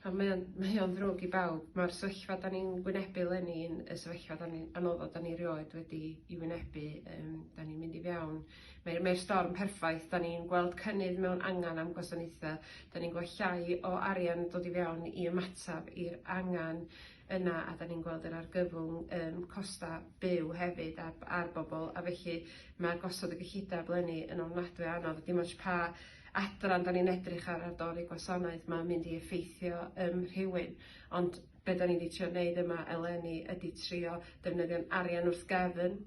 Ond mae o'n, mae o'n ddrwg i bawb. Mae'r sefyllfa da ni'n wynebu leni yn y sefyllfa da ni, anoddod da ni rioed wedi i wynebu. Um, da ni'n mynd i fewn. Mae'r mae storm perffaith. Da ni'n gweld cynnydd mewn angen am gwasanaethau. Da ni'n gweld llai o arian dod i fewn i ymataf i'r angen yna a 'da ni'n gweld yr argyfwng yym costa' byw hefyd ar b- ar bobol a felly ma' gosod y gyllideb 'leni yn ofnadwy o anodd a dim ots pa adran 'dan ni'n edrych ar ar dorri gwasanaeth ma'n mynd i effeithio yym rhywun ond be' 'dan ni 'di trio neud yma eleni ydi trio defnyddio'n arian wrth gefn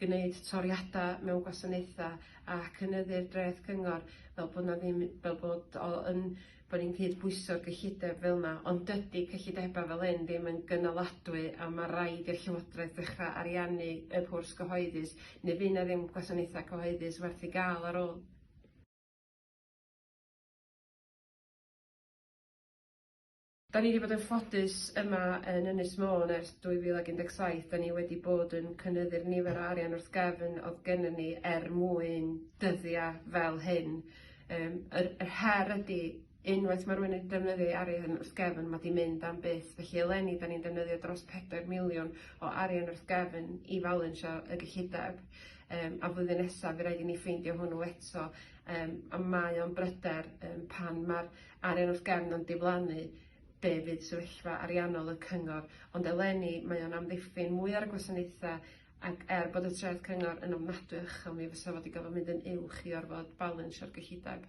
gneud toriada mewn gwasanaetha a cynyddu'r dreth cyngor fel bo' 'na ddim fel bod o yn bod ni'n cyd-bwyso'r gyllideb fel yma, ond dydy cyllidebau fel hyn ddim yn gynaladwy a ma' raid i'r Llywodraeth ddechrau ariannu y cwrs gyhoeddus neu fydd 'na ddim gwasanaethau cyhoeddus werth ei gael ar ôl. Da ni 'di bod yn ffodus yma yn Ynys Môn ers 2017, da ni wedi bod yn cynyddu'r nifer o arian wrth gefn oedd gennym ni er mwyn dyddiau fel hyn. Yym yr yr her ydi unwaith ma' rywun yn defnyddio ei arian wrth gefn ma' 'di mynd am byth felly eleni 'dan ni'n defnyddio dros pedair miliwn o arian wrth gefn i falansio y gyllideb yym a flwyddyn nesa by' raid i ni ffeindio hwnnw eto yym a mae o'n bryder yym pan ma'r arian wrth gefn yn diflannu be' fydd sefyllfa ariannol y cyngor ond eleni mae o'n amddiffyn mwy ar y gwasanaethe Ac er bod y treth cyngor yn ofnadwy o uchel mi fysa fo 'di gorfod mynd yn uwch i orfod balansio'r gyllideb.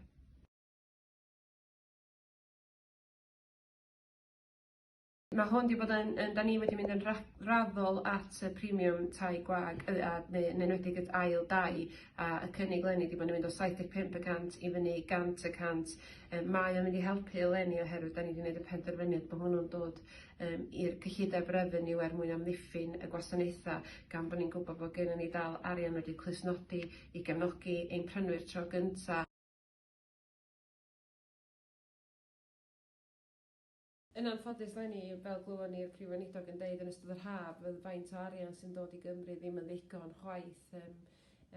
Mae hwn 'di bod yn yn 'dan ni wedi mynd yn ra- raddol at y premium tai gwag yy a neu yn enwedig at ail dai a y cynnig leni 'di bod yn mynd o saith deg pump y cant i fyny i gant y cant yy mae o'n mynd i helpu eleni oherwydd 'dan ni 'di neud y penderfyniad bo' hwnnw'n dod yym i'r cyllideb refeniw er mwyn amddiffyn y gwasanaethau, gan bod ni'n gwybod bod gennyn ni dal arian wedi clustnodi i gefnogi ein prynwyr tro gynta'. Yn anffodus leni, fel glywon ni'r Prif Weinidog yn deud yn ystod yr haf, fydd faint o arian sy'n dod i Gymru ddim yn ddigon chwaith, yym.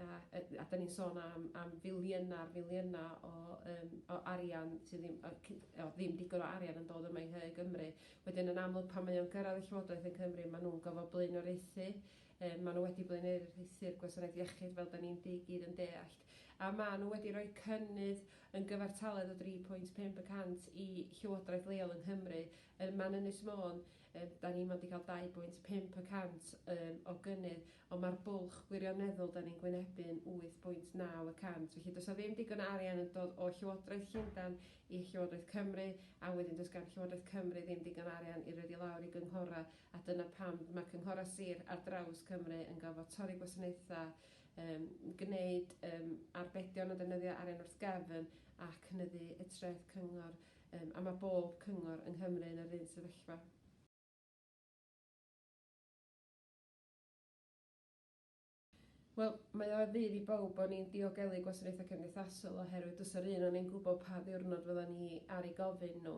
a a a 'dan ni'n sôn am am filiynau ar filiynau o yym o arian sydd ddim yy cy- o ddim digon o arian yn dod yma i nhŷ Gymru wedyn yn amlwg pan mae o'n gyrradd y Llywodraeth yn Cymru ma' nw'n gofo blaenoriaethu yy ma' n'w wedi blaenoriaethu'r gwasanaeth iechyd fel 'dan ni'n di- gyd yn deallt a ma' n'w wedi roi cynnydd yn gyfartaledd o dri pwynt pump y cant i llywodraeth leol yng Nghymru yy ma'n Ynys Môn yy 'dan ni 'mond 'di ca'l dau bwynt pump y cant yym o gynnydd ond mae'r bwlch gwirioneddol 'da ni'n gwynebu yn 8.9 y cant, felly does 'na ddim digon o arian yn dod o Llywodraeth Llundain i Llywodraeth Cymru, a wedyn does gan Llywodraeth Cymru ddim digon o arian i roid i lawr i gynghorau, a dyna pam mae cynghorau sir ar draws Cymru yn gorfod torri gwasanaethau, yym gwneud yym arbedion o ddefnyddio arian wrth gefn a cynyddu y treth cyngor, yym a mae bob cyngor yng Nghymru yn yr un sefyllfa. Wel, mae o ar fudd i bawb bo' ni'n diogelu gwasanaethau cymdeithasol oherwydd does 'na'r un o ni'n gwybod pa ddiwrnod fyddan ni ar eu gofyn nhw.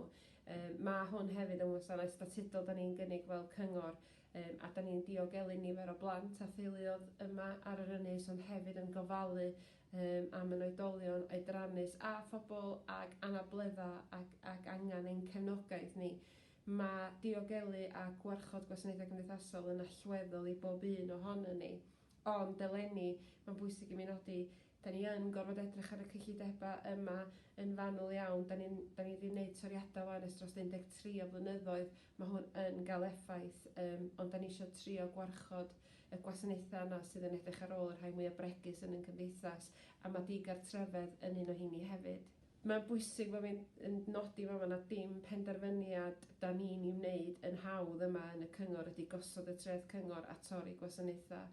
Yym ma' hwn hefyd yn wasanaeth statudol 'dan ni'n gynnig fel cyngor yym a 'dan ni'n diogelu nifer o blant a theuluodd yma ar yr ynys ond hefyd yn gofalu yym am yn oedolion oedrannus a phobl ag anabledda ac ac angan ein cefnogaeth ni. Mae diogelu a gwarchod gwasanaethau cymdeithasol yn allweddol i bob un ohonon ni. Ond, eleni, mae'n bwysig i mi nodi, dan ni yn gorfod edrych ar y cyllidebau yma yn fanwl iawn. Dan ni'n, dan ni 'di wneud toriadau 'wan ers dros 13 o flynyddoedd, mae hwn yn gael effaith, yym, ond dan ni isio trio gwarchod y gwasanaethau yna sydd yn edrych ar ôl y rhai mwya' bregus yn ein cymdeithas, a mae digartrefedd yn un o 'heini hefyd. Mae'n bwysig bod fi'n yn nodi fama nad dim penderfyniad 'da ni'n ei wneud yn hawdd yma yn y cyngor ydy gosod y treth cyngor a torri gwasanaethau.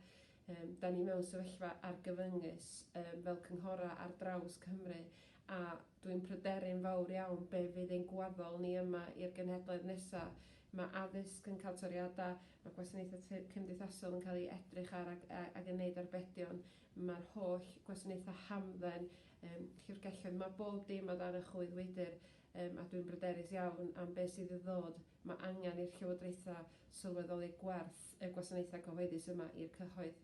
Yym, 'da ni mewn sefyllfa argyfyngus yym fel cynghorau ar draws Cymru a dwi'n pryderu'n fawr iawn be' fydd ein gwaddol ni yma i'r genhedlaeth nesa'. Mae addysg yn cael toriadau, mae gwasanaethau cymdeithasol yn cael eu edrych ar ag ag yn neud arbedion. Mae'r holl gwasanaethau hamdden, yym, llyfrgelloedd, mae bob dim o dan y choedwydr, yym, a dwi'n bryderus iawn am be' sydd i ddod. Mae angen i'r llywodraethau sylweddoli gwerth y gwasanaethau cyhoeddus yma i'r cyhoedd.